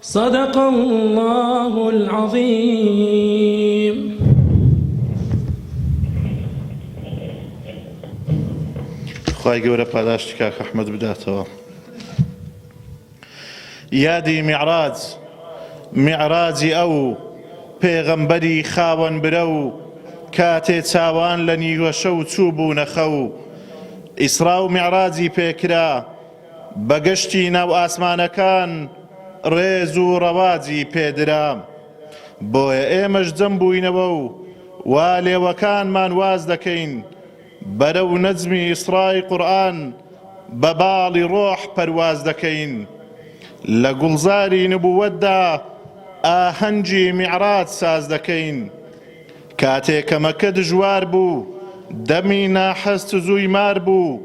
صدق اللە العظیم. خوای گەورە پاداشتی کاک ئەحمەد بداتەوە یادی میعراج میعراجی ئەو پێغەمبەری خاوەن برە و کاتێ چاوان لە نیوەشەو چوو بوونە خەو ئیسرا و میعراجی پێکرا بەگشتی ناو ئاسمانەکان ڕێز و ڕەواجی پێدرا، بۆیە ئێمەش جەم بووینەوە و وا لێوەکانمان واز دەکەین بەرەو نەجمی ئیسڕای قورئان بە باڵی ڕۆح پەرواز دەکەین. لە گوڵزاری نبووەتدا ئاهەنگی میعراج ساز دەکەین. کاتێ کە مەکە دژوار بوو دەمی ناحەست زووی مار بوو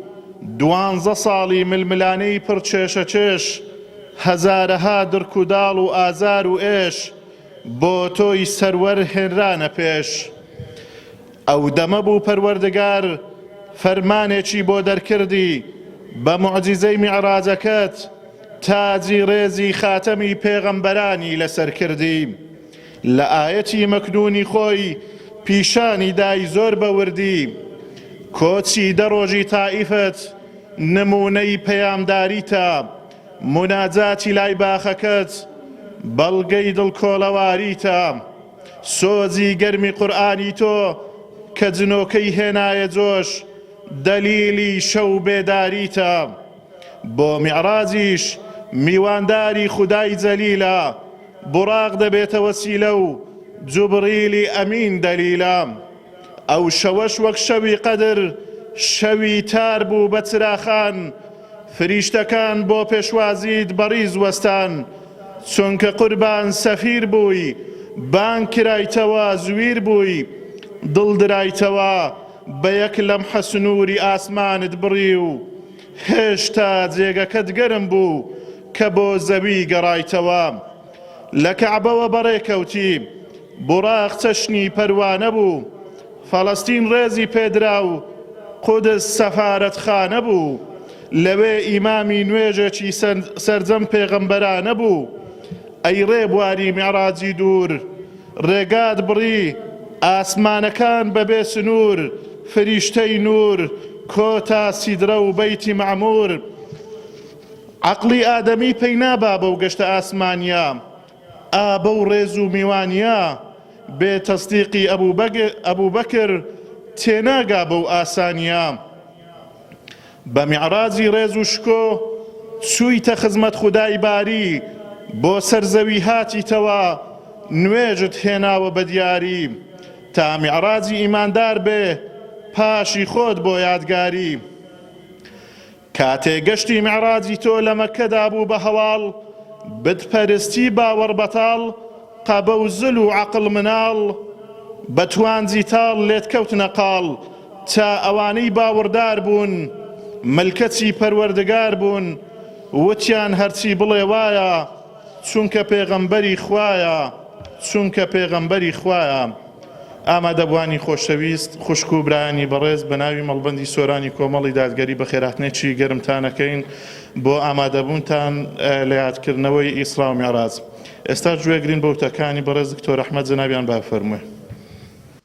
دوانزە ساڵی ململانێی پڕ چێشە چێش هەزارەها دڕک و داڵ و ئازار و ئێش بۆ تۆی سەروەر هێنرانە پێش ئەو دەمە بوو پەروەردگار فەرمانێکی بۆ دەرکردی بە موعجیزەی میعراجەکەت تاجی ڕێزی خاتەمی پێغەمبەرانی لەسەر کردی لە ئایەتی مەکنوونی خۆی پیشانی دای زۆر بە وردی کۆچی دە ڕۆژی تائیفت نموونەی پەیامداریتە، موناجاتی لای باخەکەت بەڵگەی دڵکۆڵەواریتە، سۆزی گەرمی قورئانی تۆ کە جنۆکەی هێنایە جۆش دەلیلی شەو بێداریتە. بۆ میعراجیش میوانداری خودای جەلیلە، بوڕاق دەبێتە وەسیلە و جوبڕیلی ئەمین دەلیلە. ئەو شەوەش وەک شەوی قەدر شەوی تار بوو بە چراخان، فریشتەکان بۆ پێشوازیت بەڕیز وەستان، چونکە قوربان سەفیر بووی، بانگ کرایتەوە زویر بووی، دڵدرایتەوە بە یەک لەمحە سنووری ئاسمانت بڕی و هێشتا جێگەکەت گەرم بوو کە بۆ زەوی گەڕایتەوە. لە کەعبەوە بەڕێکەوتی. بوراق چەشنی پەروانە بوو. فەڵەستین ڕێزی پێدرا و قودس سەفارەتخانە بوو. لەوێ ئیمامی نوێژێکی سەرجەم پێغەمبەرانە بوو. ئەی ڕێبواری میعراجی دوور! ڕێگات بڕی ئاسمانەکان بەبێ سنوور فریشتەی نوور کۆتا سیدرە و بەیتی مەعموور عەقڵی ئادەمی پەی نابا بەو گەشتە ئاسمانیە ئا بەو ڕێز و میوانیە بێ تەسدیقی ئەبووبەکر تێناگا بەو ئاسانیە بە میعراجی ڕێز و شکۆ چوویتە خزمەت خودای باری بۆ سەر زەوی هاتیتەوە نوێژت هێناوە بە دیاری تا میعراجی ئیماندار بێ پاشی خۆت بۆ یادگاری کاتێ گەشتی میعراجی تۆ لە مەککەدا بوو بە هەواڵ بتپەرستی باوەڕ بەتاڵ قەبە و زل و عەقڵ مناڵ بە توانجی تاڵ لێت کەوتنە قاڵ چ ئەوانەی باوەڕدار بوون ملکەچی پەروەردگار بوون وتیان هەرچی بڵێ وایە چونکە پێغەمبەری خوایە چونکە پێغەمبەری خوایە ئامادەبوانی خۆشەویست خوشک و برایانی بەڕێز بە ناوی مەڵبەندی سۆرانی کۆمەڵی دادگەری بەخێرهاتنێکی گەرمتانەکەین بۆ ئامادەبوونتان لە یادکردنەوەی ئیسرا و میعراج ئێستا گوێگرین بە وتەکانی بەڕێز دکتۆر ئەحمەد جەنابیان با بفەرموێ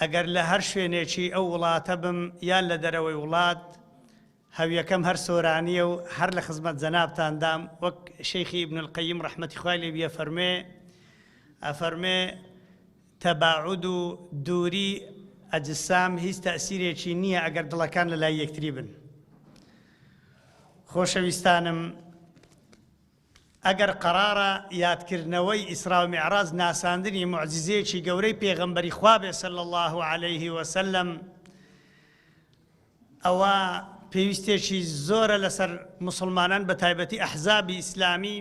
ئەگەر لە هەر شوێنێکی ئەو وڵاتە بم یان لە دەرەوەی وڵات، هەویەکەم هەر سۆرانییە و هەر لە خزمەت جەنابتاندام، وەک شێخی ابن القیم ڕەحمەتی خوای لێ بی ئەفەرموێ، ئەفەرموێ، تەباعود و دووری ئەجسام هیچ تەئسیرێکی نییە ئەگەر دڵەکان لە لای یەکتری بن. خۆشەویستانم! ئەگەر قەرارە یادکردنەوەی ئیسراو میعراج ناساندنی موعجیزەیەکی گەورەی پێغەمبەری خوا بێت صلی اللە علیە وسلم ئەوا پێویستێکی زۆرە لەسەر مسلمانان بە تایبەتی ئەحزابی ئیسلامی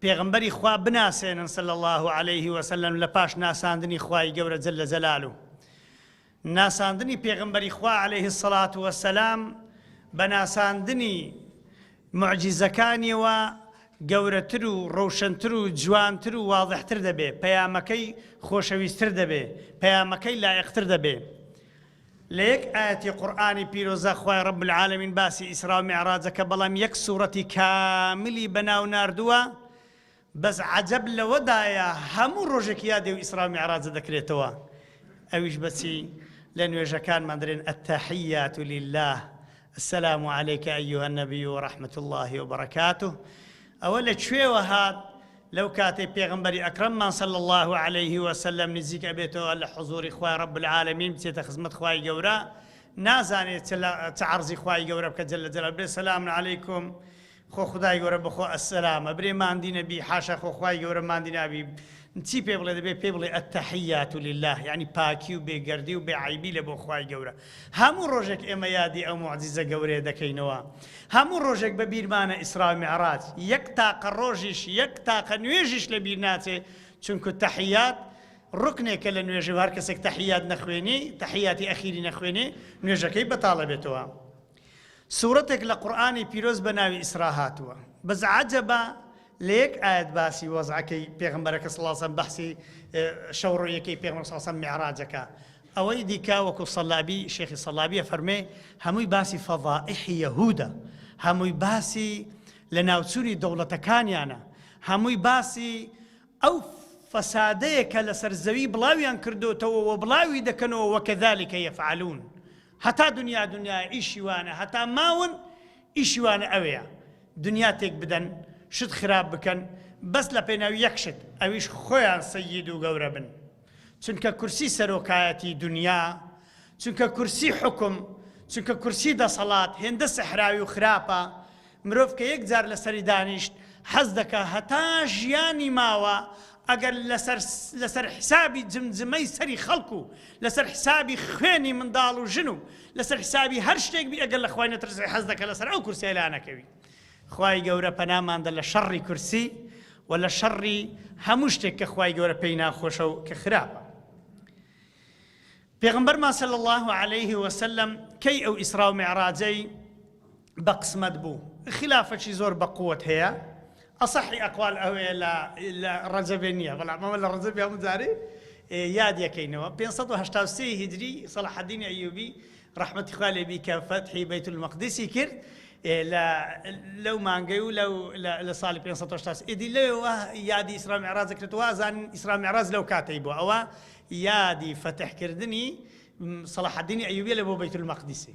پێغمبەری خوا بناسێنن صلی اللە علیه وسلم لە پاش ناساندنی خوای گەورە جل لە جەلالو ناساندنی پێغەمبەری خوا علیە الصلوە و السلام بە ناساندنی موعجیزەکانیەوە گەورەتر و ڕەوشەنتر و جوانتر و واضحتر دەبێ پەیامەکەی خۆشەویستر دەبێ پەیامەکەی لایقتر دەبێ لە یەک ئاەتی قورآانی پیرۆزە خوای ڕب العالمین باسی ئیسرا و معراجەکە بەڵام یەک سوورەتی کاملی بەناو نردووە بەس عەجەب لەوەدایە هەموو ڕۆژێک یادی و ئیسراو میعراجە دەکرێتەوە ئەویش بەچی لە نوێژەکانمان دەرێن التحیات للە السلام علیک ایها النبی و رحمت اللە و برکاته ئەوە لە کوێوە هات لەو کاتەی پێغمبەری ئەکرممان صلی اللە علیه وسلم نزیک ئەبێتەوە لە حضوری خوای رب العالمین بچێتە خزمەت خوای گەورە نازانێت چ عرضی خوای گەورە بکە جل جلال بێ سلام علیکم خۆ خودای گەورە بخۆ السلام ئەبرێ ماندی نەبی حاشا خۆ خوای گەورە ماندی نابی چی پێ بڵێ دەبێ پێ بڵێ التحیات للە یعنی پاکی و بێ گەردی و بێ عەیبی لە بۆ خوای گەورە هەموو ڕۆژێک ئێمە یادی ئەو موعجیزە گەورەیە دەکەینەوە هەموو ڕۆژێک بە بیرمانە ئیسرا و میعراج یەک تاقە ڕۆژیش یەک تاقە نوێژیش لە بیر ناچێ چونکو تەحیات ڕکنێکە لە نوێژی و هەر کەسێک تەحیات نەخوێنی تەحیاتی ئەخیری نەخوێنێ نوێژەکەی بەتاڵە بێتەوە سورەتێک لە قورئانی پیرۆز بە ناوی ئیسرا هاتووە بەس عەجەبە لە یەک ئایەت باسی وەزعەکەی پێغەمبەرەکە صلی اللە علیە وسلم بەحسی شەو ڕۆیەکەی پێغەمبەر صلی اللە علیە وسلم میعراجەکە ئەوەی دیکە وەکو سەلابی شێخی سەلابیە فەرمێ هەمووی باسی فەضائح یەهودە هەمووی باسی لە ناوچووری دەوڵەتەکانیانە هەمووی باسی ئەو فەسادەیە کە لەسەر زەوی بڵاویان کردوتەوە و بڵاوی دەکەنەوە وەکەذلكە یەفعلون هەتا دنیا دنیایە ئیشی وانە هەتا ماون ئیشی وانە ئەوەیە دنیا تێک بدەن شت خراپ بکەن بەس لە پێناوی یەک شت ئەویش خۆیان سەیید و گەورە بن چونکە کورسی سەرۆکایەتی دنیا چونکە کورسی حوکم چونکە کورسی دەسەڵات هێندە سەحراوی و خراپە مرۆڤ کە یەک جار لەسەری دانیشت حەز دەکا هەتا ژیانی ماوە ئەگەر لەسەر لەسەر حسابی جمجمەی سەری خەڵک و لەسەر حسابی خوێنی منداڵ و ژن و لەسەر حسابی هەر شتێک بی ئەگەر لە خوای نەترسی حەز دەکە لەسەر ئەو کورسیە لا نەکەوی خوای گەورە پەناماندە لە شەڕی کورسی و لە شەڕی هەموو شتێک کە خوای گەورە پێی ناخۆشە و کە خراپە پێغمبەر ماسەل الله عليه وسلم کەی ئەو ئیسرا و معراجەی بە قسمەت بوو خیلافەکی زۆر بە قوت هەیە ئەسەحی ئەقوال ئەوەیە لە لە ڕەجەبێ نییە بەڵام ئەمە لە ڕەجەبی هەموو جارێ یاد یەکەینەوە 583 هیجری سەڵحەدینی ئەیوبی ڕەحمەتی خوا لێ بی کە فەتحی بەیت المەقدسی کرد لەو مانگەی و لە ساڵی 500 ئیدی لەوە یادی ئیسرا معراز کرێتەوە زان ئیسرا معراز لەو کاتەی بۆ ئەوە یادی فەتحکردنی سەڵحدینی ئەیوبیە لە بۆ بەیت المەقدسی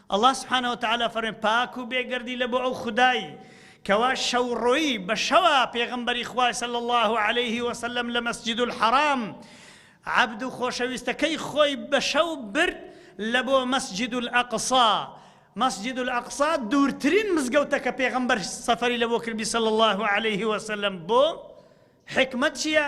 اللە سبحانە وتعالی فەرموێ، پاک و بێگەردی لە بۆ ئەو خودای کەوا شەوڕۆیی بە شەوا پێغەمبەری خوای صلی اللە علیه وسلم لە مسجد الحرام عەبد و خۆشەویستەکەی خۆی بە شەو برد لە بۆ مسجد الاقصی مسجد الاقصی دوورترین مزگەوتە کە پێغەمبەر سەفەری لە بۆ کردی صلی اللە علیه وسلم بۆ حکمت چییە؟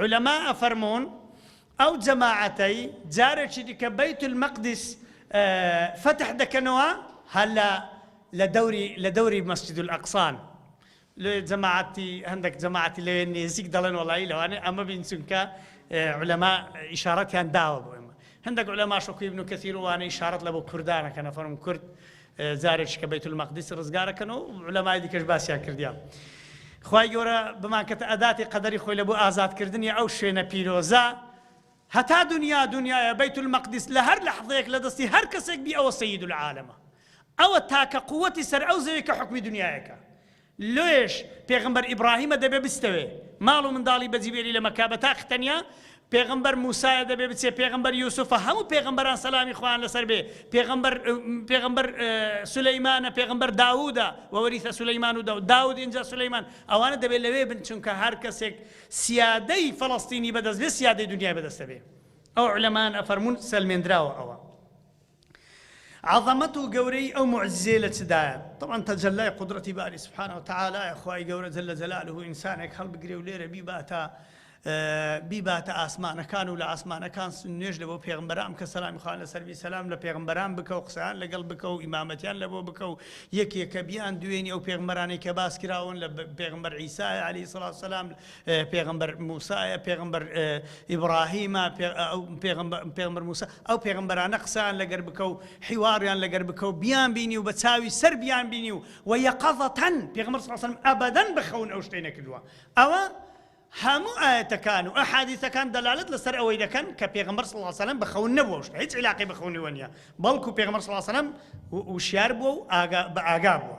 عولەما ئەفەرموون، ئەو جەماعەتەی جارێکی دیکە بەیت المەقدس فەتح دەکەنەوە هەر لە لە دەوری لە دەوری مەسجد الاقصان لێ جەماعەتی هەندێک جەماعەتی لەوێ نێزیک دەڵێن وەڵایی لەوانێ ئەمە بین چونکە عولەما ئیشارەتیان داوە بۆ ئێمە هەندێک عولەماش وەکو ابن کثیر وانە ئیشارەت لە بۆ کوردانەکەنە فەرم کورد جارێکی کە بەیتول مەقدیس ڕزگارەکەن و عولەمای دیکەش باسیان کردیە خوای گەورە بمانکەتە ئەداتی قەدەری خۆی لەبۆ ئازادکردنی ئەو شوێنە پیرۆزە هەتا دنیا دنیاە بەیت المەقدس لە هەر لەحظەیەک لە دەستی هەر کەسێک بی ئەوە سید العالمە ئەوە تاکە قوتی سەر ئەو زەوی کە حکمی دنیایەکە لۆیەش پێغەمبەر ئیبڕاهیمە دەبێ بستەوێ ماڵ و منداڵی بەجی بێلی لە مەککە بە تاق تەنیا پێغەمبەر موسایە دەبێ بچێ پێغەمبەر یوسفە هەموو پێغەمبەران سەلامی خوان لەسەر بێ پێغەمبەر پێغەمبەر سولەیمانە پێغەمبەر داوودە وەوەریثە سولەیمان و داود داود ئینجا سولەیمان ئەوانە دەبێت لەوێ بن چونکە هەر کەسێک سیادەی فەڵەستینی بەدەست بێ سیادەی دنیای بەدەستە بێ ئەو علەمان ئەفەرمون سەلمێندراوە ئەوە عەزەمەت و گەورەیی ئەو موعجیزەیە لە چ دایە؟ تەبعەن تەجەلای قودرەتی باری سبحانە و تعالیە، خوای گەورە جل جلالە ئینسانێک هەڵبگرێ و لێرە بیباتە بیباتە ئاسمانەکان و لە ئاسمانەکان نوێژ لە بۆ پێغمبەران بکە سەلامی خوان لە سەروی سەسلام لە پێغمبەران بکە و قسەیان لەگەڵ بکە و ئیمامەتیان لە بۆ بکە و یەکێکە بیان دوێنی ئەو پێغمبەرانی کە باسکراون لە پێغمبەر عیسای علی سڵاو سەسلام پێغەمبەر موسایە پێغەمبەر ئیبڕاهیمە پێغەمبەر موسا ئەو پێغمبەرانە قسەیان لەگەر بکە و حیواڕیان لەگەر بکە و بیان بینی و بە چاوی سەر بیان بینی و و یەقەزەتەن پێغمبەر سەسم ئەبدەن بخەون ئەو شتەی نەکردووە ئەوە هەموو ئاەتەکان و ئەحادیثەکان دەلالت لەسەر ئەوەی دەکەن کە پێغمبەر سڵسەلم بخەون نەبووە شت هیچ علاقی بخونیوە نیە بەڵکو پێغمبەر سڵسەلم وشیار بووە و بە ئاگا بووە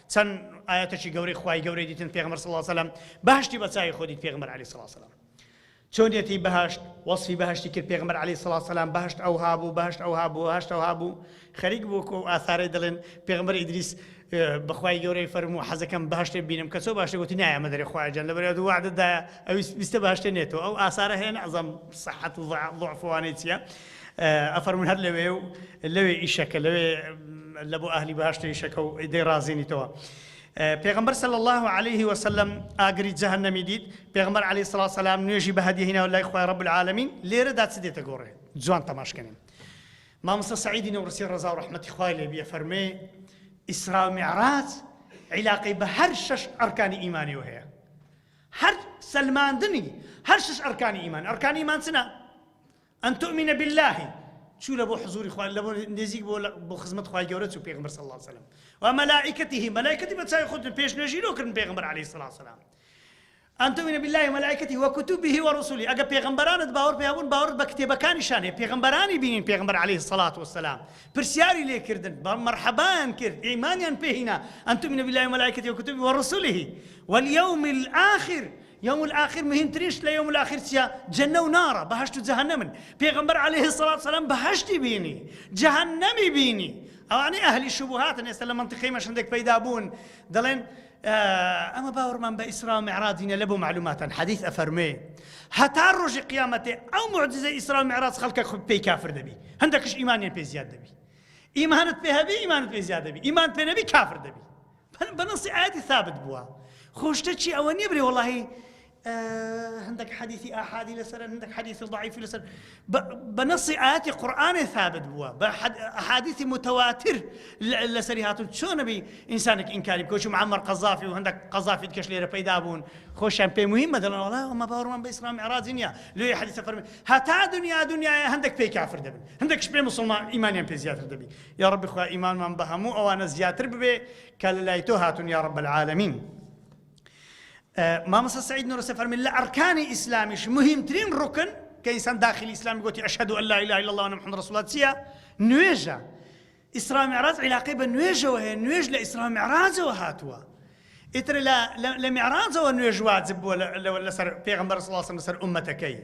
چەن ئایەتەکی گەورەی خوای گەورەی دیتن پێغمبەر صلی اللە سلم بەهشتی بە چاوی خۆ دیت پێغمبەر علی سڵ سلام چۆنیەتی بەهشت وەصفی بەهشتی کرد پێغمبەر علی سڵ سلام بەهشت ئەو هابوو بەهشت ئەو هابوو هەشت ئەو هابوو خەریک بوو کۆ ئاثارەی دەڵێن پێغمبەر ئیدریس بەخوای گەورەی فەرمو حەزەکەم باشتێ بینم کە چۆ باشتێ گوتی نایە مەدەری خواجان لە بەرێت وعدەدا ئەویست باشتێ نێتەوە ئەو ئاسارە هەیە نازم سەحەت و ضعفوانەی چیە ئەفەرموون هەر لەوێ و لەوێ ئیشەکە لەوێ لە بۆ ئەهلی بەهەشتە ئیشەکە و دەی ڕازێنیتەوە. پێغمبەر صلی اللە علیه وسلم ئاگری جەهەنەمی دیت، پێغمبەر علیە سڵا سەلام نوێژی بە هەدیە هیناوە لای خوای رب العالمین، لێرەدا چ دێتە گۆڕێ؟ جوان تەماش کەنین. مامۆستا سعیدی نەوڕسی ڕەزا و ڕەحمەتی خوای لێ بیە فەرمێ ئیسرا و معراج عیلاقەی بە هەر شەش ئەرکانی ئیمانیەوە هەیە هەر سەلماندنی هەر شش ئەرکانی ئیمان ئەرکانی ئیمان چنە ان تؤمن باللە چوو لەبۆ حزوری خوا لەبۆ نزیک بۆ بۆ خزمەت خوای گەورە چوو پێغمبەر صلی الله علیه وسلم و ملائکته ملائکتی بە چاوی خۆتون پێش نوێژی لۆ کردن پێغمبەر علیه الصلاه والسلام ان تؤمن بالله وملائکته وكتبه ورسله ئەگە پێغمبەرانت باوەڕ پێ بوون باوەڕ بە کتێبەکانیشان هەیە پێغمبەرانی بینین پێغمبەر علیه الصلاه والسلام پرسیاری لێ کردن بە مرحبایان کرد ئیمانیان پێهینا ان تؤمن بالله وملائکته وكتبه ورسله واليوم الاخر یوم الاخر مهمترین شت لە یوم الاخر چیە جەنە و نارە بەهەشت و جەهەنەمن پێغەمبەر علیە الصلوة والسلام بەهەشتی بینی جەهەنەمی بینی ئەوانەی ئەهلی شوبوهاتن ئێستا لە مەنتیقی ئێمەش هەندێک پەیدا بوون دەڵێن ئەمە باوەڕمان بە ئیسرا و معراج نیە لە بۆ معلوماتان حەدیث ئەفەرمێ هەتا ڕۆژی قیامەتێ ئەو معجزە ئیسرا و معراج خەڵکە خود پێی کافر دەبی هەندێکش ئیمانیان پێ زیاد دەبی ئیمانت پێ هەبی ئیمانت پێ زیاد دەبی ئیمان پێ نەبی کافر دەبی پەن بە نەسی ئایەتی ثابت بووە خۆشتە چی ئەوە نیە برێ وەڵاهی هەندێک حەدیثی ئاحادی لەسەر هەندێک حەدیثی ضعیفی لەسەر بە نەسی ئاەتی قورآانێ ثابت بووە بە حادیثی متواتر لەسەری هاتون چۆنەبی ئینسانێک ئینکاری کۆچی معمر قەزافی و هەندێک قەزافیت کەش لێرە پەیدا بوون خۆشیان پێی مهم مەدەڵەوەڵا ئەمە باوەڕمان بە ئسلام عراجی نیە لێ حەدیثە فەرمی هەتا دنیا دنیاە هەندێک پێی کافر دەبن هەندێکش پێ مسلمان ئیمانیان پێ زیاتر دەبی یاڕەبی خوا ئیمانمان بە هەموو ئەوانە زیاتر ببێ کە لە لای تۆ هاتون یاڕەب العالمین مامۆستا سعید نورسە فەرمی لە ئەرکانی ئیسلامیش مهمترین ڕوکن کە ئینسان داخلی ئیسلام گوتی ئەشهد ان لا اله الا الله محمد رسول الله چیە نوێژە ئیسرا معراج علاقەی بە نوێژەوە هەیە نوێژ لە ئیسرا معراجەوە هاتووە ئیتر لە لە میعراجەوە نوێژ واجب بووە لەسەر پێغەمبەر صلی اللە علیە وسلم لەسەر ئوممەتەکەی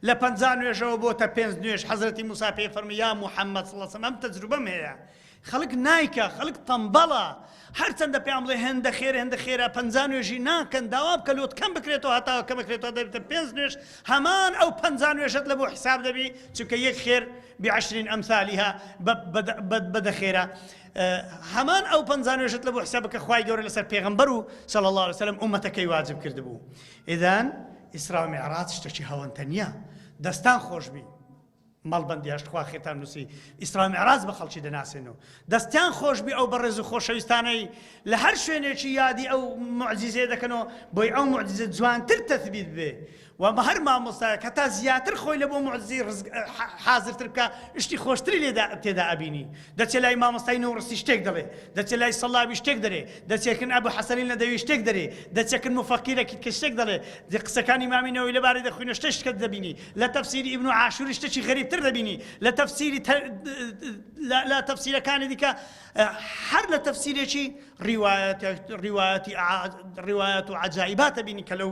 لە پەنجا نوێژەوە بۆتە پێنج نوێژ حەزرەتی موسی پێی فەرمووی یا محەممەد صلی اللە علیە وسلم ئەم تەجروبەم هەیە خەڵک نایکە خەڵک تەمبەڵە هەرچەندە پێیان بڵێ هێندە خێر هێندە خێرا پەنجا نوێژی ناکەن داوا بکە لۆت کەم بکرێتەوە هەتاوە کە بکرێتەوە دەبێتە پێنج نوێژ هەمان ئەو پەنجا نوێژت لە بۆ حیساب دەبی چونکە یەک خێر بعشرین ئەمثالیها بەدە خێرا هەمان ئەو پەنجا نوێژت لە بۆ حساب بکە خوای گەورە لەسەر پێغمبەر و صلی الله علیه وسلم ئومەتەکەی واجب کردبوو ئیدان ئیسرا و معراج شتێکی هەوەنتە نییە دەستان خۆشبی مەڵبندی هەشتخوا خێتان نووسی ئیسرا معراج بە خەڵکی دەناسێن و دەستیان خۆشبی ئەو بەڕێز و خۆشەویستانەی لە هەر شوێنێکی یادی ئەو معجززیێ دەکەنەوە بۆی ئەو معجززە جوانتر تەثبیت بێ وە بە هەر مامۆستایەک هەتا زیاتر خۆی لە بۆ موعجزەی ڕزق حازرتر بکا شتی خۆشتری لێدا تێدا ئەبینی دەچێ لای مامۆستای نووڕسی شتێک دەڵێ دەچێ لای سەڵابی شتێک دەرێ دەچێ کن ئەبو حەسەنی نەدەوی شتێک دەرێ دەچێ کن موفەقیرەکیت کە شتێک دەڵێ دە قسەکانی ئیمامی نەوەوی لەبارەی دەخوینە شتێ شتکە دەبینی لە تەفسیری ئیبن عاشوری شتێکی غەریبتر دەبینی لە تەفسیری لە تەفسیرەکانی دیکە هەر لە تەفسیرێکی ڕیوایەتی ڕیوایەتی ڕیوایەت و عەجایباتە بینی کە لەو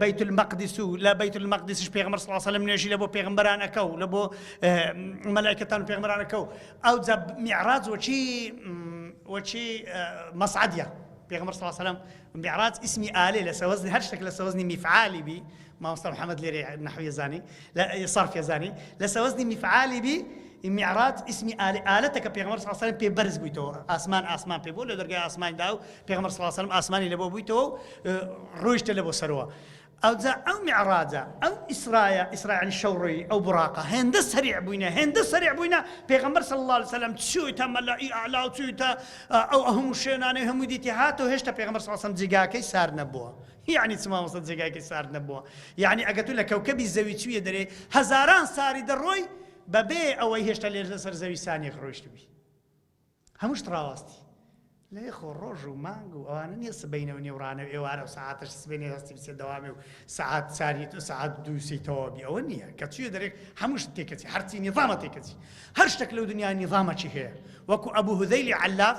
بەیت المەقدس و لە بەیت المەقدسش پێغمبەر صلی الله علیه و سلم نوێژی لە بۆ پێغمبەرانەکە و لە بۆ مەلائکەتان و پێغمبەرانەکە و ئەو جا میعراج وەچی وەچی مەسعدیە پێغمبەر صلی الله علیه و سلم میعراج اسمی ئالێ لە سەوەزنی هەر شتێک لە سەوەزنی میفعالی بی مامۆستا محمد لێرە نحوی زانی لە صرف یەزدانی لە سەوەزنی میفعالی بی میعراج ئیسمی ئالی ئالەتە کە پێغمبەر صلی الله علیه و پێ بەرز بوویتەوە ئاسمان ئاسمان پێ بوو لە دەرگای ئاسمانی دا و پێغمبەر صلی الله علیه و سلم ئاسمانی لەبۆ بوویتەوە و ڕۆیشتە لە بۆ سەرەوە ئەوجا ئەو میعراجە ئەو ئیسرایە ئیسرائیل شەوڕی ئەو بڕاقە هێندە سەریع بووینە هێندە سەریع بووینە پێغمبەر صلی الله علیه و سلم چوویتە مەلای ئەعلا و چوویتە ئەو هەموو شوێنانەی هەموو دیتی هاتەوە هێشتا پێغمبەر صلی الله علیه و سلم جێگاکەی سار نەبووە یەعنی چ مامۆستا جێگایکەی سارد نەبووە یەعنی ئەگەر تو لە کەوکەبی زەوی چویە دەرێ هەزاران ساری دەڕۆی بەبێ ئەوەی هێشتا لێرە لەسەر زەوی سانیەک ڕۆیشتبی هەموو شت ڕاواستی لێ خۆ ڕۆژ و مانگ و ئەوانە نیە سبینە و نێوڕانە و ئێوارە و سەعاتش سبێنێ هەستی بچێت دەوامێ و سەعات ساریت و سەعات دووسی تەواوبی ئەوە نییە کە چیە دەرێک هەموو شت تێکەچی هەرچی نیظامە تێکەچی هەر شتێک لەو دنیا نیظامەکی هەیە وەکو ئەبوو هودەیلی عەلاف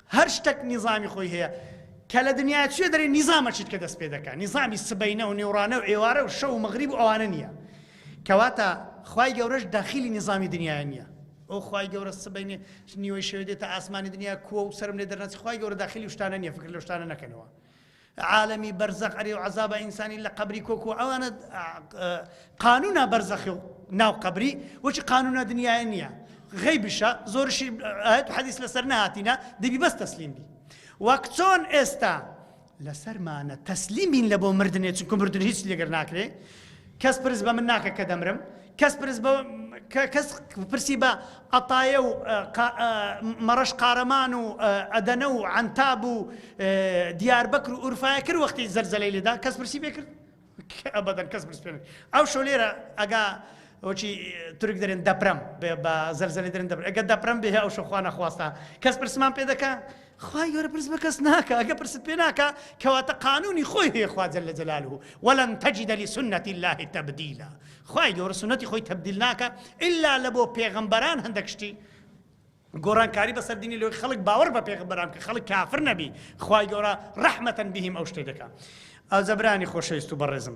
هەر شتەک نیزامی خۆی هەیە کە لە دنیا چووێ دەرێ نیزامە چیت کە دەست پێ دەکا نیزامی سبەینە و نیوڕانە و ئێوارە و شەو و مەغریب و ئەوانە نییە کەواتە خوای گەورەش داخیلی نیزامی دنیایە نییە ئەو خوای گەورە سبەینێ نیوەی شەوێ دێتە ئاسمانی دنیا کووە و سرم لێ دەرنەچ خوای گەورە داخیلی شتانە نییە فکر لە شتانە نەکەنەوە عالەمی بەرزەخ ئەرێ و عەزابە ئینسانی لە قەبری کۆک و ئەوانە قانونا بەرزەخی و ناو قەبری وەچی قانونا دنیاە نییە غەی بشە زۆرشی ئاەت حەدیس لەسەر نهاتینە دەبی بەس تەسلیم بی وەک چۆن ئێستا لەسەرمانە تەسلیمین لە بۆ مردنێ چونکە مردن هیچ لەگەر ناکرێ کەس پرس بە من ناکە کە دەمرم کەس پرسی بە عەتایە و مەڕەش قارەمان و ئەدەنە و عەنتاب و دیاربەکر و ئورفایە کرد وەختی زەرزەلەی لێدا کەس پرسی بێ کرد ئەبەدەن کەس پرس پێ ئەو شەو لێرە ئەگا وەچی تورک دەرێن دەپرم بە زەرزەلی دەرن دەبر ئەگە دەپرم بێ ئەو شەخوا نەخواستە کەس پرسمان پێ دەکە خوای گەورە پرس بە کەس ناکا ئەگە پرست پێ ناکا کەواتە قانونی خۆی هەیە خوا جل جلاله ولن تجد لسنة الله تبديلا خوای گەورە سنەتی خۆی تبدیل ناکا ئللا لە بۆ پێغەمبەران هەندێک شتی گۆڕانکاری بەسەر دینی لۆی خەڵک باوەڕ بە پێغەمبەران کە خەڵک کافر نەبی خوای گەورە رحمەتەن بهم ئەو شتێ دەکا ئازەبرانی خۆشەویست و بەڕێزم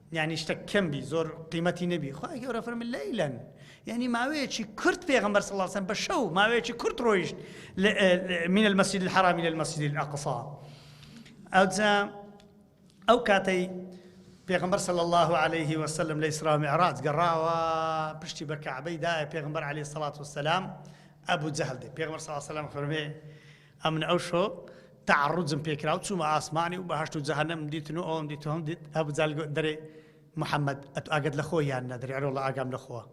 یانی شتەک کەم بی زۆر قیمەتی نەبی خوای گەورە فەرمی لەیلەن یانی ماوەیەکی کورت پێغەمبەر صلی الله علیه و سلم بە شەو ماوەیەکی کورت ڕۆیشت من المسجد الحرام الى المسجد الاقصى ئەوجا ئەو کاتەی پێغمبەر صلی الله عليه وسلم لە ئیسرا معراج گەڕاوە پشتی بە کەعبەی دایە پێغمبەر علی سەڵات وسلام ئەبوو جەهل دێ پێغمبەر صلی الله علیه وسلم فەرمێ ئەمن ئەو شۆ تەعەڕوجم پێ کرا و چوومە ئاسمانی و بەهەشت و جەهەنەمم دیتن و ئەوەم دیت و ئەوەم دیت، ئەبو جەهل گوت، دەرێ محەممەد ئەتوو ئاگەت لە خۆی یان نا؟ دەرێ ئەرێ وەڵڵا ئاگام لە خۆوە.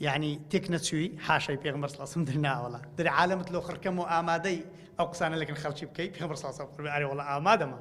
یەعنی تێک نەچووی؟ حاشای پێغەمبەر صلی اللە علیە وسلم، دەرێ ناوەڵڵا. دەرێ عالەمت لۆ خڕ کەم و ئامادەی ئەو قسانە لەگەڵ خەڵکی بکەی؟ پێغەمبەر صلی اللە علیە وسلم، ئەرێ وەڵڵا ئامادەمە.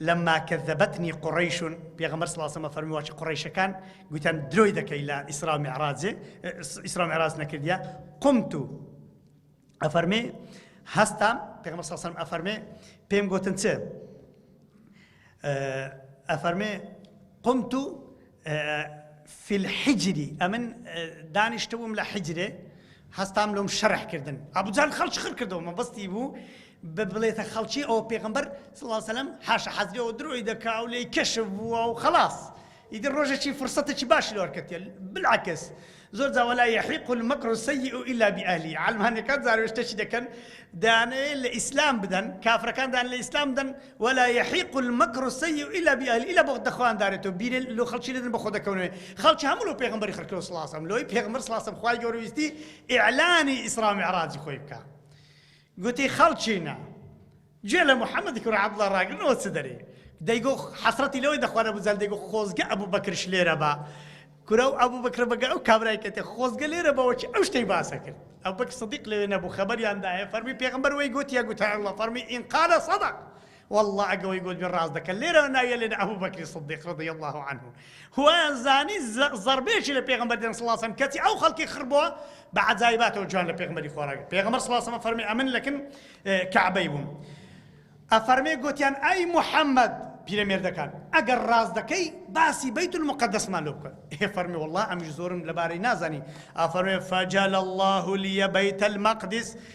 لما کذبتنی قریش، پێغەمبەر صلی اللە علیە و سلم فەرمووی واچی قڕیشەکان گوتیان درۆی دەکەی لە ئیسرا و معراجێ ئیسرا و معراج نەکردیە قمت ئەفەرمێ هەستام پێغەمبەر صلی اللە علیە و سلم ئەفەرمێ پێم گوتن چ ئەفەرمێ قمت فی الحجری ئەمن دانیشتبووم لە حجرێ هەستام لۆم شەرح کردن ئەبو جەهل خەڵکی خڕ کردەوە مەبەستی بوو ببڵێتە خەڵکی ئەو پێغەمبەر صلی الله علیه و سلم حاشا حەزری ئەو درۆی دەکا و لێی کەشف بووە و خەڵاس ئیدی ڕۆژێکی فرسەتێکی باشی لۆ وەرکەتێ بالعکس زۆر جا ولا یحیق المکر السیء الا باهله عەلمانیەکان جارێ شتێکی دەکەن دەیانەوێت لە ئیسلام بدەن کافرەکان دەیان لە ئیسلام بدەن ولا یحیق المکر السیء الا باهله الا بۆ دەخوایان دارێتەوە بیرێ لۆ خەڵکی دەدەن بەخۆ دەکەونەوە خەڵکی هەموو لۆ پێغەمبەری خەڵکی لۆ سڵاسەم لۆی پێغەمبەر سڵاسەم خوای گەورە ویستی ئیعلانی ئیسرا و میعراجی خۆی بکا گوتی خەڵکینە گوێ لە محمدی کوڕی عبداللە ڕاگرن ئەوە چ دەرێ دەیگۆ حەسرەتی لەوەی دەخوارە بزان دەیگۆ خۆزگە ئەبوو بەکرش لێرە بە کورە و ئەبوو بکرە بەگە ئەو کابرای کەتێ خۆزگە لێرە بەوەکی ئەو شتەی باسە کرد ئەو بەک سەدیق لەوێ نەبوو خەبەریاندایە فەرمی پێغمبەر وەی گوتیە گوتە ئەڵە فەرمی ئینقالە سەدق وەڵڵا ئەگە وەی گۆتبێ ڕاست دەکەن لێرەوە ناویەلێن ئەبو بەکری صدیق رضی اللە عنه هوایان زانی زەڕبێکی لە پێغەمبەر دێن صلی اللە علیه کەچی ئەو خەڵکی خڕ بووە بە عەجایباتەوە جوان لە پێغەمبەری خۆراگرت پێغەمبەر صلی اللە علیه فەرمی ئەمن لەکن کەعبەی بووم ئەفەرمێ گوتیان ئەی محەممەد پیرەمێردەکان ئەگەر ڕاست دەکەی باسی بیت المقدسمان لۆ بکەن هێ فەرمی والله ئەمیش زۆرم لەبارەی نازانی ئافەرمێ فەجل الله لیە بیت المقدس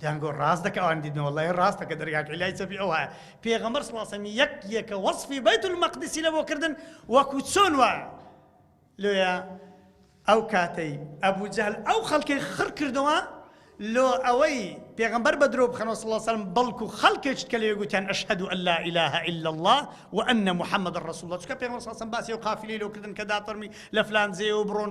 دەیان گۆ ڕاست دەکە ئەوان دیدنە وەڵڵە ی ڕاستە کە دەرگا کەی لای چەپی ئەو وایە پێغەمبەر صلی اللە علیە وسلم یەک یەکە وەسفی بەیت المەقدسی لەبۆ کردن وەکو چۆن وایە لۆیە ئەو کاتەی ئەبو جەهل ئەو خەڵکەی خڕ کردەوە لۆ ئەوەی پێغمبەر بە درۆ بخەنەوە صلی الله سلم بەڵکو خەڵکێکت کە لێ گوتیان ئەشهد ان لا اله الا الله وان محمد رسول الله چکە پێغمبەر صلی الله باسی و قافلەی لۆ کردن کە دافەرمی لە فلان جێ و بڕۆن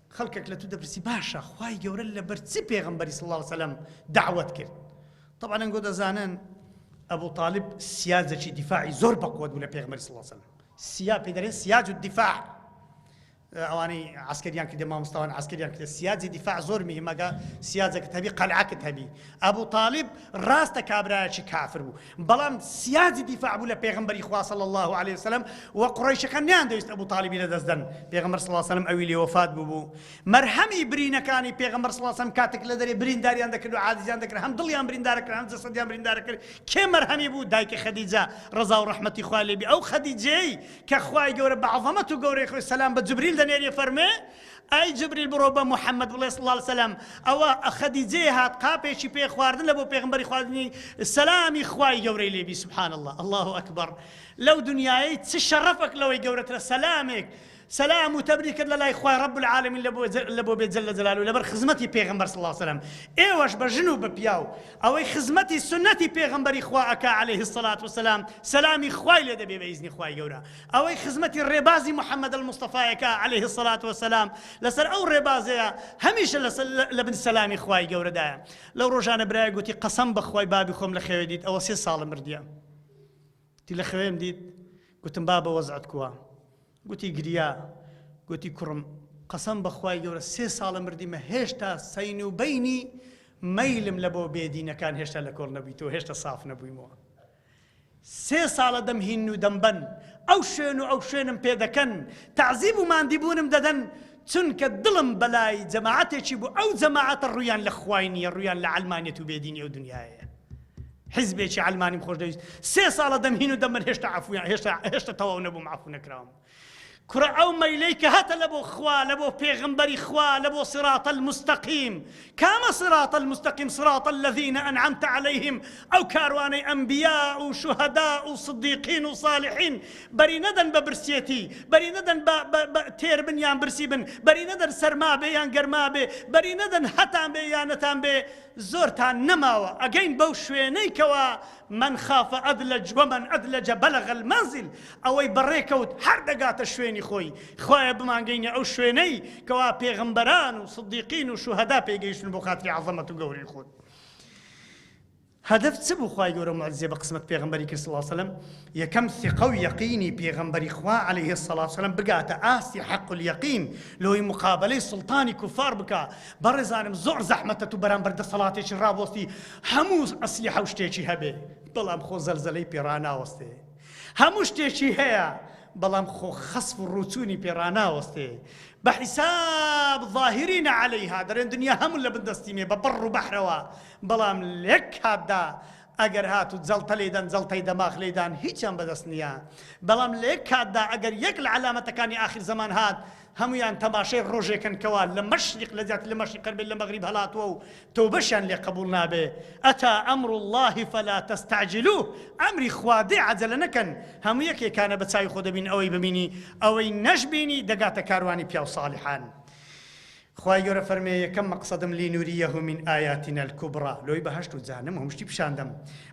خەڵکەک لە تو دەپرسی باشە خوای گەورە لە بەر چ پێغەمبەری صلی اللە علیە وسلم دەعوەت کرد طبعا ئەنگۆ دەزانن ابو طالب سیاجەکی دیفاعی زۆر بەقوت بوو لە پێغمەری صلی اللە علیە وسلم سیا پێ دەرێن سیاج و دیفاع ئەوانەی عسکریان کردە مامۆستاوان عسکریان کردە سیاجی دیفاع زۆر میهمەکە سیاجەکە هەبی قەلعکت هەبی ئەبوو تاالب ڕاستە کابراایکی کافر بوو بەڵام سیاجی دیفاع بوو لە پێغەمبەری خوا صلی اللە علیە وسلم و قوڕەیشەکان نەیاندەویست ئەبو طالیبی لەدەست دەن پێغەمبەر صلی اللە علیە وسلم ئەوی لێ وەفات بووبوو مەرهەمی برینەکانی پێغەمبەر صلی اللە علیە وسلم کاتێک لە دەرێ برینداریان دەکرد و عاجزیان دەکرد هەم دڵیان بریندارە کرد هەم جەسەدیان بریندارە کرد کێ مەرهەمی بوو دایکی خەدیجە ڕەزا و ڕەحمەتی خوا لێبی ئەو خەدیجەی کە خوای گەورە بە عەزەمەت و گەورەی خۆی سەلام بە جبریل دەنێری فەرمێ ئای جبریل بڕۆ بە موحەمەد بڵێ، صلی اللە علیە وسلم، ئەوە خەدیجەیە هات قاپێکی پێ خواردن لە بۆ پێغەمبەری خوا دنی سەلامی خوای گەورەی لێ بی سبحان اللە اللە اکبر لەو دنیایەی چ شەڕەفەک لەوەی گەورەترە سەلامێک سەلام و تەبری کرد لە لای خوای رب العالمین لە بۆ بێ جل جلالو لەبەر خزمەتی پێغەمبەر صلی اللە علیە وسلم ئێوەش بە ژن و بە پیاو ئەوەی خزمەتی سنەتی پێغەمبەری خوا ئەکا علیه الصلاة والسلام سەلامی خوای لێ دەبێ بە ئیزنی خوای گەورە ئەوەی خزمەتی ڕێبازی محمد المصطفی یەکا علیە الصلوە و السلام لەسەر ئەو ڕێبازەیە هەمیشە لە بن سەلامی خوای گەورەدایە لەو ڕۆژانە برایەک گوتی قەسەم بەخوای بابی خۆم لە خەوێ دیت ئەوە سێ ساڵە مردیە تی لە خەوێم دیت گوتم بابە وەزعت کووە گوتی گریا گوتی کوڕم قەسەم بەخوای گەورە سێ ساڵە مردیمە هێشتا سەین و بینی مەیلم لە بۆ بێدینەکان هێشتا لە کۆڵ نەبیتەوە هێشتا ساف نەبوویمەوە سێ ساڵە دەم هین و دەم بەن ئەو شوێن و ئەو شوێنم پێ دەکەن تەعزیب و ماندیبوونم دەدەن چونکە دڵم بەلای جەماعەتێکی بوو ئەو جەماعەتە ڕوویان لە خوای نییە ڕوویان لە عەلمانیەت و بێدینی ئەو دنیایەیە حیزبێکی عەلمانیم خۆشدەویست سێ ساڵە دەم هین و دەم بەن هێشتا عەفویان هێشتا هێشتا تەواو نەبووم عەفو نەکراوم کوڕە ئەو مەیلەی کە هەتە لە بۆ خوا لە بۆ پێغەمبەری خوا لە بۆ صراط المستقیم کامە صراط المستقیم صراط الذین انعمت علیهم ئەو کاروانەی ئەنبیا و شوهدا و صدیقین و صالحین بەری نەدەن بە برسیەتی بەری نەدەن بە بە بە تێر بن یان برسی بن بەری نەدەن سەرما بێ یان گەرما بێ بەری نەدەن هەتان بێ یان نەتان بێ زۆرتان نەماوە ئەگەین بەو شوێنەی کەوا من خاف ادلج ومن ادلج بلغ المنزل ئەوەی بەڕێکەوت هەر دەگاتە شوێنی خۆی، خوایە بمانگەینە ئەو شوێنەی کەوا پێغەمبەران و سدیقین و شوهەدا پێی گەیشتن بۆ خاتری عەزەمەت و گەورەی خۆت. هەدەف چ بوو خوای گەورە موعجزەی بە قسمەت پێغەمبەری کرد صلی سلم یەکەم ثقە و یەقینی پێغەمبەری خوا علیە الصلوة والسلام بگاتە ئاستی حق الیقین لۆی مقابلەی سوڵتانی کوفار بکا بەڕێزانم زۆر زەحمەتە تو بەرامبەر دەسەڵاتێکی ڕابۆستی هەموو ئەسلحە و شتێکی هەبێ بەڵام خۆ زەلزەلەی پێ ڕاناوەستێ، هەموو شتێکی هەیە بەڵام خۆ خەسف و ڕووچوونی پێ ڕاناوەستێ، بە حیساب ظاهرین علیها دەرێن دنیا هەموو لە بن دەستی مێ بە بەڕ و بەحرەوە بەڵام لەک کاتدا ئەگەر هات و جەڵتە لێی دەن جەڵتەی دەماخ لێی دان هیچیان بەدەست نییە بەڵام لەک کاتدا ئەگەر یەک لە عەلامەتەکانی ئاخر زەمان هات هەموویان تەماشای ڕۆژێکەن کەوا لە مەشریق لە جیاتی لە مەشریق هەر بێت لە مەغریب هەلاتووە و تەوبەشیان لێ قەبووڵ نابێ اتی امر اللە فلا تستعجلوه ئەمری خوا دێ عەجەلە نەکەن هەموو یەکێکانە بە چاوی خۆ دەبین ئەوەی ببینی ئەوەی نەشبینی دەگاتە کاروانی پیاو ساڵحان خوای گەورە فەرمێ یەکەم مەقسەدم لینوریه من آیاتنا الکبری لۆی بەهەشت و جەهەنەم و هەموو شتی پیشان دەم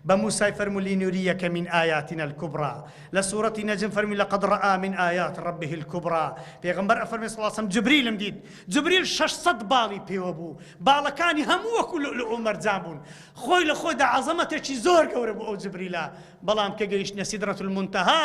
بە موسای فەرمولی نوری یەکەمین ئایاتنا الکبری لە سورەتی نەجم فەرمی لقد رآ من آیات ربه الکبری پێغەمبەر ئەفەرمێ صلی اللە علیە وسلم جبریلم دیت جبریل شەش سەد باڵی پێوە بوو باڵەکانی هەموو وەکو لؤلؤ و مەرجان بوون خۆی لە خۆیدا عەزەمەتێکی زۆر گەورە بوو ئەو جبریلە بەڵام کە گەیشتە سیدرەتولمونتەها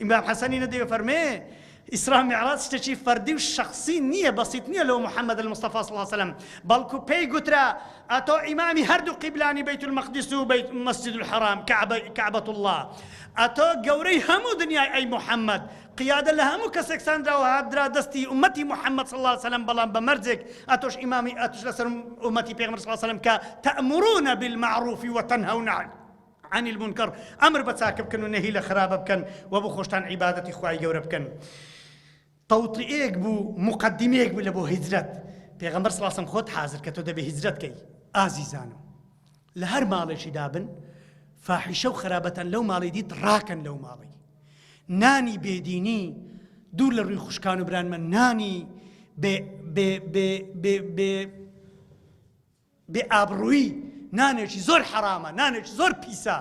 ئیمام حەسەنی ندی ئەفەرمێ، ئیسرا میعراج شتێکی فەردی و شەخسی نییە، بەسیط نییە لۆ محمد المصطفی صلی وسلم، بەڵکو پێی گوترا، ئەتۆ ئیمامی هەردوو قیبلانی بیت المقدس و مسجد الحرام، کعبە اللە، ئەتۆ گەورەی هەموو دنیای ئەی محمد، قیادە لە هەموو کەسێک ساندراوە هاتدرا دەستی ئومەتی محمد صلی اللە علیە وسلم بەڵام بە مەرجێک ئەتۆش ئیمامی ئەتوش لەسەر ئومەتی پێغەمبەر صلی اللە علیە وسلم کە تەئمرون بالمعروف وتنهون عن عن المنکر، ئەمر بە چاکە بکەن و نەهی لە خراپە بکەن و بۆ خۆشتان عیبادەتی خوای گەورە بکەن. تەوتئیەک بوو، موقەدیمەیەک بوو لە بۆ هیجرەت. پێغەمبەر صلی اللە علیە وسلم خۆت حازر کە تۆ دەبێ هیجرەت کەی. ئازیزانم! لە هەر ماڵێکی دا بن، فاحیشە و خەرابەتان لەو ماڵی دیت ڕاکەن لەو ماڵی. نانی بێدینی، دوور لە ڕووی خوشکان و بران مە نانی بێ بێ بێ بێ بێ بێ ئابڕوویی نانێکی زۆر حەرامە نانێکی زۆر پیسە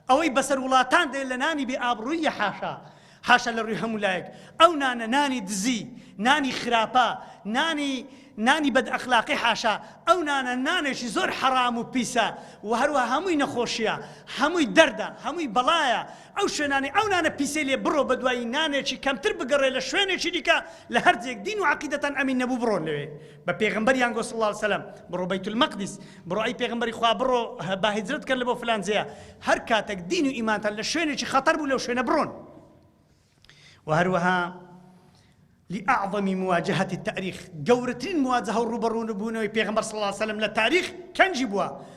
ئەوەی بەسەر وڵاتان دێ لە نانی بێ ئابڕووییە حاشا حاشا لە ڕووی هەموو لایەک ئەو نانە نانی دزی نانی خراپە نانی نانی بەد ئەخلاقی حاشا ئەو نانە نانێکی زۆر حەرام و پیسە و هەروە هەمووی نەخۆشیە هەمووی دەردە هەمووی بەڵایە ئەو شوێنانی ئەو نانە پیسەی لێ بڕۆ بە دوایی نانێکی کەمتر بگەڕێ لە شوێنێکی دیکە لە هەرجێک دین و عقیدەتان ئەمین نەبوو بڕۆن لەوێ بە پێغەمبەریان گۆ صلی اللە علیە وسلم بڕۆ بیت المقدس بڕۆ ئەی پێغەمبەری خوا بڕۆ با هجرت کەر لە بۆ فلان جێە هەر کاتێک دین و ئیمانتان لە شوێنێکی خەتەر بوو لەو شوێنە بڕۆن و هەروەها لأعظم مواجهة التاريخ گەورەترین مواجهة و ڕوبەڕوون بوونەوەی پێغمبەر صلی الله عليه وسلم لە تاریخ کەنجی بووە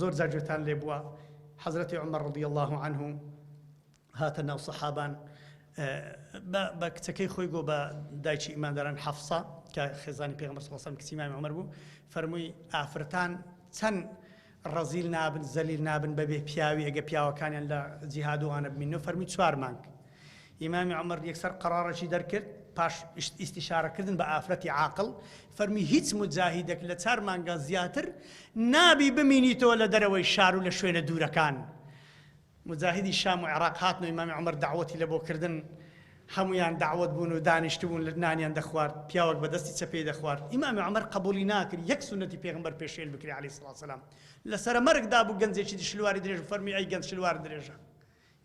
زۆر جار گوێتان لێ بووە حەزرەتی عومەر رەضی اللە عنه هاتە ناو سەحابان بە بە کچەکەی خۆی گۆ بە دایکی ئیمانداران حەفسا کە خێزانی پێغمبەر صلی اللە علیه و سلم کچی مامی عومەر بوو فەرمووی ئافرەتان چەند ڕەزیل نابن زەلیل نابن بەبێ پیاوی ئەگە پیاوەکانیان لە جیهاد و ئانە بمینەوە فەرمووی چوار مانگ ئیمامی عومەر یەکسەر قەڕاڕێکی دەرکرد، پاش ئیستیشارەکردن بە ئافرەتی عاقڵ، فەرمی هیچ موجاهیدێک لە چار مانگان زیاتر نابی بمینیتەوە لە دەرەوەی شار و لە شوێنە دوورەکان. موجاهیدی شام و عێڕاق هاتن و ئیمامی عومەر دەعوەتی لە بۆ کردن، هەموویان دەعوەت بوون و دانیشتبوون لە نانیان دەخوارد، پیاوەک بە دەستی چەپێی دەخوارد. ئیمامی عومەر قەبووڵی ناکرد یەک سوننەتی پێغەمبەر پێشێل بکرێ عەلەیهی سڵاوسلام. لە سەرەمەرگدا بوو گەنجێکی شلواری درێژ فەرمی ئەی گەنج شلوار درێژە!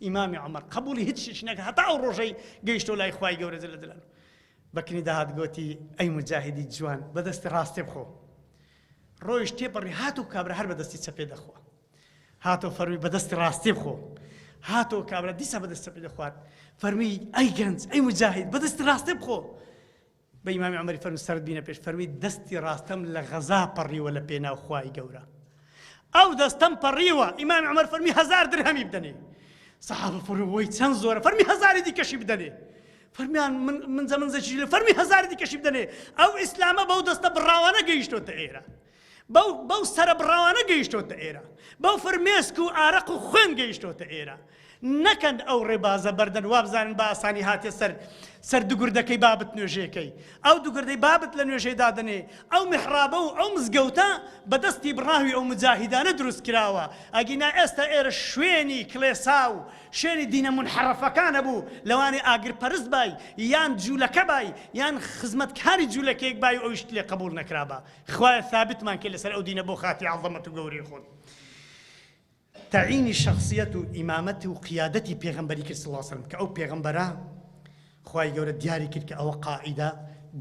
ئیمامی عومەر قەبووڵی هیچ شتێکی نەکرد هەتا ئەو ڕۆژەی گەیشتەوە لای خوای گەورە جل جلاله بەکنی داهات گۆتی ئەی مجاهدی جوان بەدەستی ڕاستێ بخۆ ڕۆیش تێپەڕی هات و کابرا هەر بەدەستی چەپێ دەخوا هاتۆ فەرمی بەدەستی ڕاستی بخۆ هاتۆ کابرا دیسا بەدەست چەپێ دەخوات فەرمی ئەی گەنج ئەی مجاهید بەدەستی ڕاستێ بخۆ بە ئیمامی عومەری فەرموو سەرت بینە پێش فەرمووی دەستی ڕاستەم لە غەزا پەڕیوە لە پێناو خوای گەورە ئەو دەستەم پەڕیوە ئیمامی عومەر فەرمی هەزار درهەمی بدەنێ سەحابە فڕوەی چەند زۆرە فەرمی هەزاری دیکەشی بدەنێ فەرمیان من زەمن زەچی لە فەرمی هەزاری دیکەشی بدەنێ ئەو ئیسلامە بەو دەستە بڕاوانە گەیشتۆتە ئێرە بەو بەو سەرەبڕاوانە گەیشتۆتە ئێرە، بەو فرمێسک و ئارەق و خوێن گەیشتۆتە ئێرە. نەکەن ئەو ڕێبازە بەردەن وابزانن بە ئاسانی هاتیە سەر سەر دگردەکەی بابت نوێژێکەی. ئەو دگردەی بابت لە نوێژێ دادەنێ، ئەو میحڕابە و ئەو مزگەوتە بە دەستی بڕاوی ئەو موجاهیدانە دروست کراوە. ئەگینا ئێستا ئێرە شوێنی کڵێسا و شوێنی دینە مونحەڕەفەکانە بوو، لەوانەیە ئاگرپەرست بای، یان جولەکە بای، یان خزمەتکاری جولەکەیەک بای و ئەویشت لێ قەبووڵ نەکرابا. خوایە ثابتمان کەی لەسەر ئەو دینە بۆ خاتری عەزەمەت و گەورەی خۆت تەعینی شەخسیەت و ئیمامەت و قیادەتی پێغەمبەری کرد صلی اللە علیە وسلم کە ئەو پێغەمبەرە خوای گەورە دیاری کرد کە ئەوە قائیدە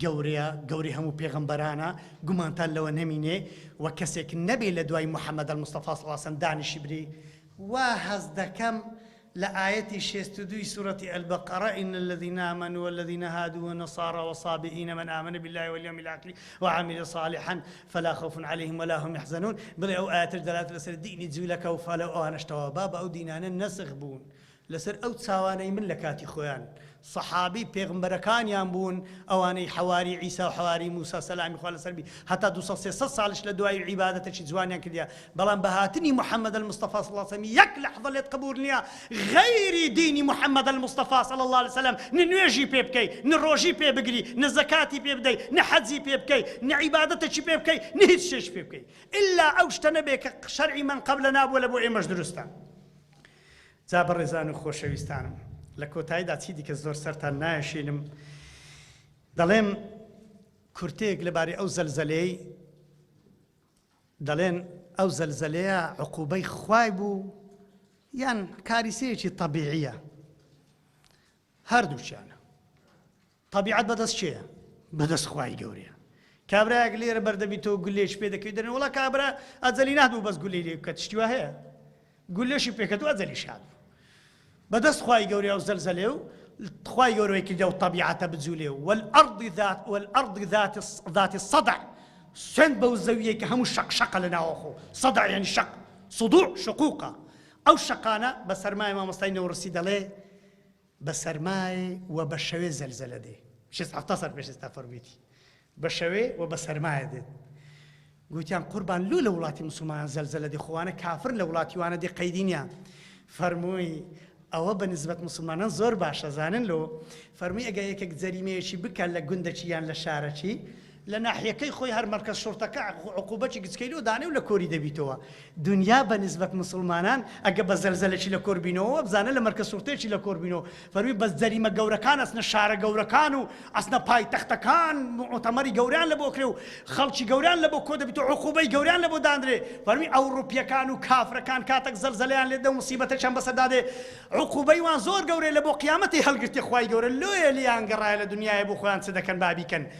گەورەیە گەوری هەموو پێغمبەرانە گومانتان لەوە نەمینێ و کەسێک نەبێ لە دوای محەممەد مستەفاس واسەن دانیشی بری وا هەز دەکەم لە ئایەتی شێست و دوو ی سورەتی البقرە، ان الذین آمنوا والذین هادوا والنصاری والصابئین من آمن باللە والیوم الآخر وعمل صالحا فلا خوف علیهم ولا هم یحزنون، بڵێ ئەو ئایەتەش دەلالەت لەسەر دینی جولەکە و فالە و ئەوانەش تەواوە بابە ئەو دینانە نەسخ بوون لەسەر ئەو چاوانەی من لەکاتی خۆیان سەحابی پێغمبەرەکانیان بوون ئەوانەی حەواری عیسا و حەواری موسا سەلامی خوا لەسەر بی هەتا دوو سەد سێ سەد ساڵیش لە دوایی عیبادەتەکی جوانیان کردیە بەڵام بە هاتنی محمد المصطفی صلی اللە علیە وسلم یەک لەحزە لێت قبوول نیە غەیری دینی محمد المصطفی صلی اللە علیە وسلم نە نوێژی پێ بکەی نە ڕۆژی پێ بگری نە زەکاتی پێ بدەی نە حەجی پێ بکەی نە عیبادەتەکی پێ بکەی نە هیچ شتێکی پێ بکەی الا ئەو شتە نەبێ کە شەرعی من قبلنا بووە لە بۆ ئێمەش دروستە جا بەڕێزان و خۆشەویستانم لە کۆتاییدا چی دیکە زۆر سەرتان نایەشێنم دەڵێم کورتەیەک لەبارەی ئەو زەلزەلەی دەڵێن ئەو زەلزەلەیە عقوبەی خوای بوو یان کاریسەیەکی طبیعیە هەردووکیانە تەبیعەت بەدەست کێیە بەدەست خوای گەورەیە کابرایەک لێرە بەردەبیتەوە گولێش پێ دەکەی دەرێ وڵا کابرا ئەجەلی نهبوو بەس گولەی لێ بکە تشتیوا هەیە گولێشی پێکەتو ئەجەلی شاد بەدەست خوای گەورەیە و زەلزەلێ و خوای گەورەی کردە و طبیعەتە بجوولێ و والأرضی ذات والأرضی ذات ذات الصدع سند بەو زەویە کە هەموو شەق شەقە لە ناوەخۆ صدع یعنی شەق صدوع شقوقە ئەو شەقانە بە سەرمایە مامۆستای نەوڕسی دەڵێ بە سەرمای و بە شەوێ زەلزەلە دێ. شێست حەفتا ساڵ پێش ئێستا فەرموویەتی بە شەوێ و بە سەرمایە دێت. گوتیان قوربان لۆ لە وڵاتی مسوڵمانان زەلزەلە دێ خوانە کافر لە وڵاتی وانە دێ قەیدی نیە. فەرمووی ئەوە بە نسبەت مسلمانان زۆر باشە زانن لۆ فەرمی ئەگە یەکێک جەریمەیەکی بکە لە گوندەچی یان لە شارەچی لە ناحیەکەی خۆی هەر مەرکەز شوڕتەکە عقوبەکی گچکەی لۆ دانێ و لە کۆری دەبیتەوە دونیا بە نیسبەت موسڵمانان ئەگە بە زەلزەلەکی لە کۆر بینەوە وە بزانە لە مەرکەز شوڕتەیەکی لە کۆر بینەوە فەرمی بەس جەریمە گەورەکان ئەچنە شارە گەورەکان و ئەچنە پایتەختەکان موعتەمەری گەوریان لە بۆ کرێ و خەڵکی گەوریان لە بۆ کۆ دەبیت و عقوبەی گەوریان لە بۆ دانرێ فەرمی ئەوڕوپیەکان و کافرەکان کاتەک زەلزەلیان لێ دە موسیبەتەکیان بەسەردا دێ عقوبەی وان زۆر گەورەیە لە بۆ قیامەتی هەڵگرتێ خوای گەورە لۆیە لیان گەڕایە لە دونیایە بۆ خۆیان چ دەکەن با بیکەن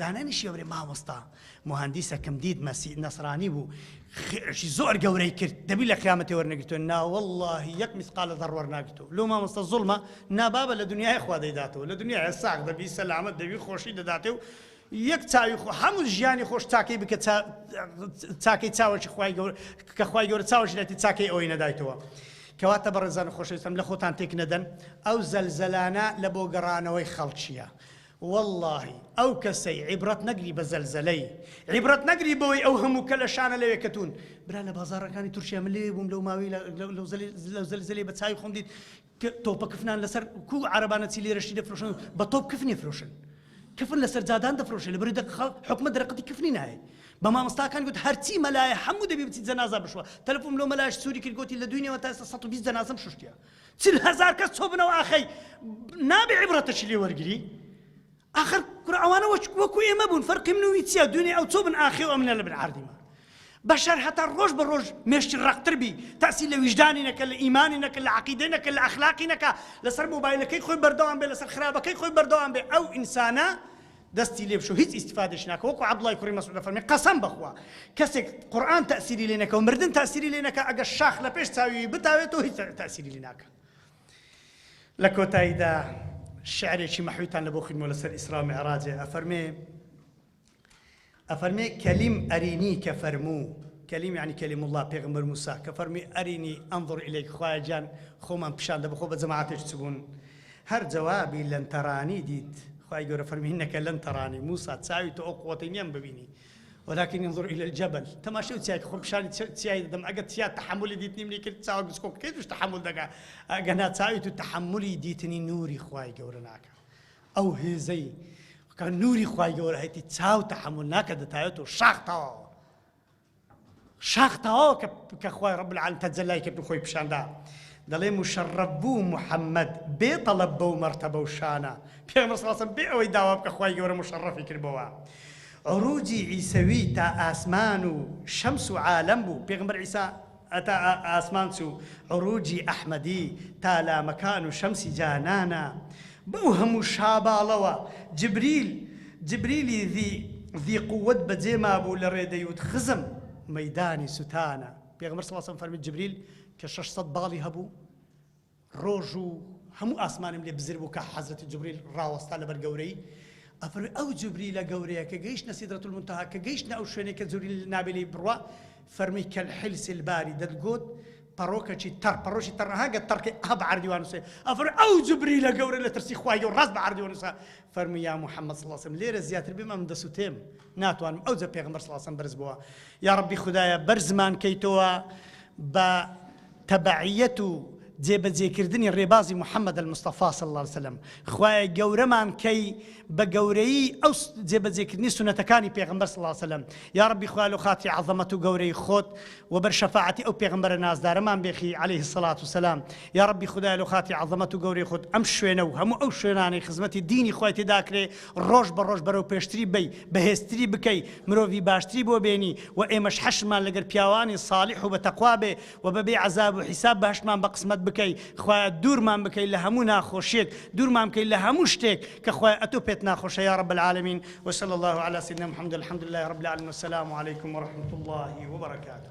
دانانی شێوری مامۆستا موهەندیسەکم دیت مەسی نەسرانی بوو خێشی زۆر گەورەی کرد دەبی لە قیامەتی وەرنەگرتووە ناوەڵی یەک میسقالە دەڕ وەرناگرتو لۆ مامۆستا زڵمە نابابە لە دنیای خوا دەیداتەوە لە دنیای ساغ دەبی سەلامت دەبی خۆشی دەداتێ و یەک چاوی خۆ هەموو ژیانی خۆش چاکەی بکە چاکەی چاوەشی خی گەور کە خی گەورە چاوەشی لەتی چاکەی ئەوەی نەدایتەوە. کەواتە بەڕێزان خۆشەویستم لە خۆتان تێک نەدەن ئەو زەلزەلانە لە بۆ گەڕانەوەی خەڵکیە وەڵڵاهی ئەو کەسەی عیبڕەت نەگری بە زەلزەلەی عیبڕەت نەگری بەوەی ئەو هەموو کەلەشانە لەوێ کەتوون برا لە بازاڕەکانی تورکیا من لەوێ بووم لەو ماوەی لەو زەلزەلەی بە چاوی خۆم دیت تۆپە کفنان لەسەر کو عربانە چی لێرەشی دەفرۆشن بە تۆپ کفنی فرۆشن کفن لەسەر جادان دەفرۆشێ لە بری دەق حکومە دەرەقەتی کفنی نایە بە مامۆستاکان گوت هەرچی مەلایە هەموو دەبی بچی جەنازە بشوە تەلفۆم لۆ مەلاش سووری کرد گوتی لە دوینەوە تا 120 جەنازەم شوشتیە چل هەزار کەس چۆبنەوە ئاخەی نابێ عبرەتەشی لێ وەرگری آخر کورە ئەوانە وەکو ئێمە بوون فەرقی من وی چیە دوێنێ ئەو چۆ بن ئاخێ ئەو منە لە بن عردیمە بەشەر هەتا ڕۆژ بە ڕۆژ مێشتی ڕقتر بی تاسی لە ویژدانی نەکە لە ئیمانی نەکە لە عقیدە نەکە لە ئەخلاقی نەکە لەسەر مۆبایلەکەی خۆی بەردەوام بێ لەسەر خراپەکەی خۆی بەردەوام بێ ئەو ئینسانە دەستی لێ بشۆ هیچ ئیستیفادەیش ناکە وەکو عەبدوڵای کوڕی مەسعود دەفەرمێ قەسەم بەخوا کەسێک قورئان تەئسیری لێ نەکەو مردن تەئسیری لێ نەکا ئەگەر شاخ لە پێش چاویی بتاوێتەوە هیچ تەئسیری لێ ناکا لە کۆتاییدا شعرێکی مەحویتان لەبۆ خویندمەوە لەسەر ئیسرا و میعراجێ ئەفەرمێ ئەفەرمێ کلیم ارینی کە فەرموو، کلیم یەعنی کلیم اللە، پێغەمبەر موسا، کە فەرمووی ارینی انظر الیک، خوایە گیان خۆمان پیشان دە، بخۆ بە جەماعەتێک چ بوون؟ هەر جوابی لن ترانی دیت، خوای گەورە فەرمووی انک لن ترانی، موسا چاوی تۆ ئەو قوەتەی نییە من ببینی، ولکن انظر الی الجبل، تەماشای ئەو چیایە کە خۆم پیشانی چیای دەدەم، ئەگەر چیا تەحەمولی دیتنیم نەیکرد، چاوە گچکۆکەکەی توش تەحەمول دەکا، ئەگەنا چاوی تو تەحەمولی دیتنی نووری خوای گەورە ناکا. ئەو هێزەی کە نوری خوای گەورە هەیتی چاو تەحەمول ناکە دەتاوێت و شاخ تەواوە شاخ تەواوە کە کە خوای ڕەب العالمین تەجەلای کرد و خۆی پیشاندا دەڵێ مشەڕەب بوو محەممەد بێ تەڵەب بەو مەرتەبە و شانە پێغەمبەر صلی الله بێ ئەوەی داوا بکە خوای گەورە مشەڕەفی کردبەوە عروجی عیسەوی تا ئاسمان و شەمس و عالەم بوو پێغەمبەر عیسی هەتا ئاسمان چوو عروجی ئەحمەدی تا لامەکان و شەمسی جانانا بەو هەموو شاباڵەوە جبریل جبریلی ذی ذی قوت بەجێ مابوو لە ڕێ دەیوت خزم مەیدانی سوتانا پێغەمبەر صلی اللە علیە وسلم فەرمووی جبریل کە شەش سەد باڵی هەبوو ڕۆژ و هەموو ئاسمانم لێ بزر بوو کە حەزرەتی جوبریل ڕاوەستا لەبەر گەورەیی ئەفەرموێ ئەو جوبریلە گەورەیە کە گەیشتە سیدرەت المنتهی کە گەیشتە ئەو شوێنەی کە جوبریل نابێ لێی بڕوا فەرمووی کالحلس الباری دەتگۆت پەڕۆکەکی تەڕ پەڕۆکی تەڕ ئەها گە تەڕ کەی ئەها بە عەرەبی وا نووسێ ئەفەرمووی ئەو جوبریلە گەورە لە ترسی خوای گەورە ڕاست بە عەرەبی وەنووسە فەرمووی یا محمد صلی اللە علیە وسلم لێرە زیاتر بێم ئەم دەسوتێم ناتوانم ئەو جە پێغمبەر صلی اللە علیە وسلم بەرز بووە یاڕەبی خودایە بەرزمان کەیتەوە بە تەبعیەت و جێبەجێکردنی ڕێبازی محەممەد المستەفا صلی اللە علیە وسلم خوایە گەورەمان کەی بە گەورەی ئەو جێبەجێکردنی سونەتەکانی پێغمبەر صلی اللە علیە وسلم یاڕەبی خوال و خاتی عەظەمەت و گەورەی خۆت و بەر شەفاعەتی ئەو پێغمبەرە نازدارەمان بێخی عليه الصلاة والسلام یاڕەبی خدای لە خاتی عەظەمەت و گەورەی خۆت ئەم شوێنە و هەموو ئەو شوێنانەی خزمەتی دینی خوای تێداکرێ ڕۆژ بە ڕۆژ بەرەو پێشتری بەی، بەهێزتری بکەی، مرۆڤی باشتری بۆ بێنی و ئێمەش حەشرمان لەگەر پیاوانی صالیح و بە تەقوا بێ و بە بێ عەزاب و حیساب بەهەشتمان بە قسمەت بکەی، خوایە دوورمان بکەی لە هەموو ناخۆشیەک، دوورمان بکەی لە هەموو شتێک کە خوایە ئەتۆ پێت ناخۆشە یا رب العالمین وصلی اللە علی سیدنا محمد الحمدللە رب العالمین والسلام علیکم ورحمة اللە وبرکاته.